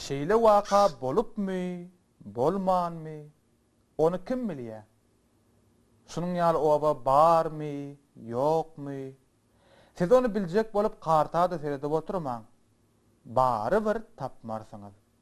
Şeýle waka bolupmy, bolmanmy, ony kim bilýä? Şunuň ýaly oba barmy, ýokmy? Siz ony biljek bolup karta-da seredip oturmaň. Barybir tapmarsyňyz.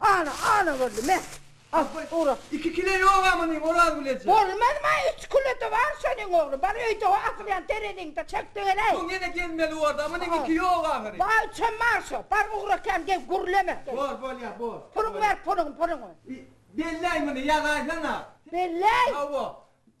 Ana, ana boldy, me! Al, ura! Iki kile ýoga munyň, Orazgül eje? Bolmazmy, üç kile-de bar şonuň ogly. Bar, öýde o asylýan tereziňde çekdigeleý. Soň ýene gelmeli bor-da, munyň iki ýok ahyry. Bar, üçem bar şo. Bar, ugra kän gep gürleme. Bor, bolýar, bor. Puluňy ber, puluňy, puluňy. Belläý muny, ýazaýsana. Belläý? Hawa.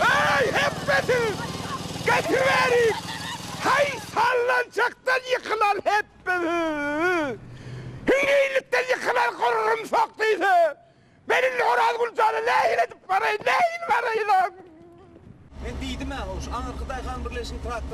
Öý hepbesiz! Getiriberin! Haý, sallançakdan ýykylan hepbesiz! Hüňňeýlikden ýykylan gurrumsak diýse, men indi Orazgül jana nähili edip baraýyn, nähili baraýyn-a? Men diýdim-ä, hoş, aňyrky daýhanbirleşiginiň traktory.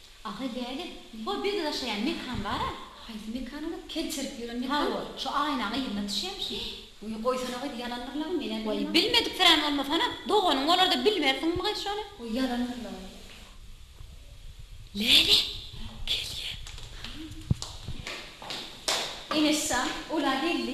Ahy däli bu biz yaşayan mekan bara. Haýsy mekan ola kel çirip ýören mekan. Ha ol şu aýnaň yzyna düşýämişin. Uýy goýsana goý ýalandyr laby menä bilmedim. Waý bilmediksirän bolmasana doganyň bolarda bilmersiňmi gaý şony. Goý ýalandyr laby. Läle gelýä. Eneş jan ola geldi.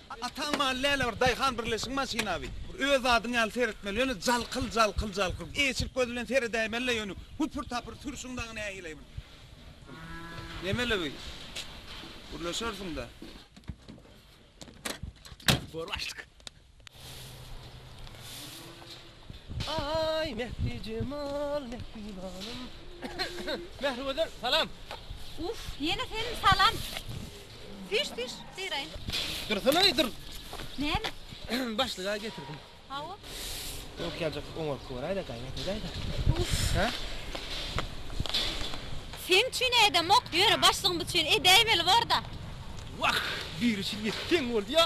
Ataň maly däl-ä bir daýhan birleşigi maşyna bi. Bir öz zadyň ýaly seretmeli ýöne jalkyl jalkyl jalkyl. Eşik göz bilen seredäýmeli-le ýöne hüpür tapyr sürşüň dagy nähili bir. Nemeli bi. Gürleşersiň-dä. Gör başlyk. Aý Mehri jemal mehribanym Mehri gözel salam. Uff ýene senin salam. Düş düş syraýyn. Dursunaý dur. Näme? Başlyga getirdim. Hawa. Ýok ýajyk oňaryp göräýdä gaýrat edäýdä. Uff. Hä? Sen üçin edemok ýöne başlygyň üçin edäýmeli borda. Wah biri şil ýetseň bolýa.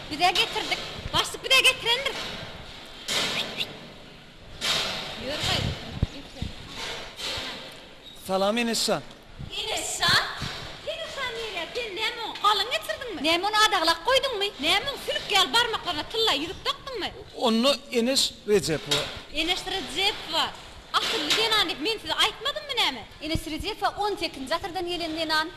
Bize getirdik. Başlyk bize getirendir. Ýör gaý. Salam Enes jan. Enes jan? Sen uşa nirä? Sen näme oň galyň getirdiňmi? Näme ony adaglap goýduňmy? Näme oň sülük ýaly barmaklaryna tylla ýüzük dakdyňmy? Onda Enes Rejepowa. Enes Rejepowa asylly zenan diýip men size aýtmadymmy näme? Enes Rejepowa on sekizinji asyrdan gelen zenan.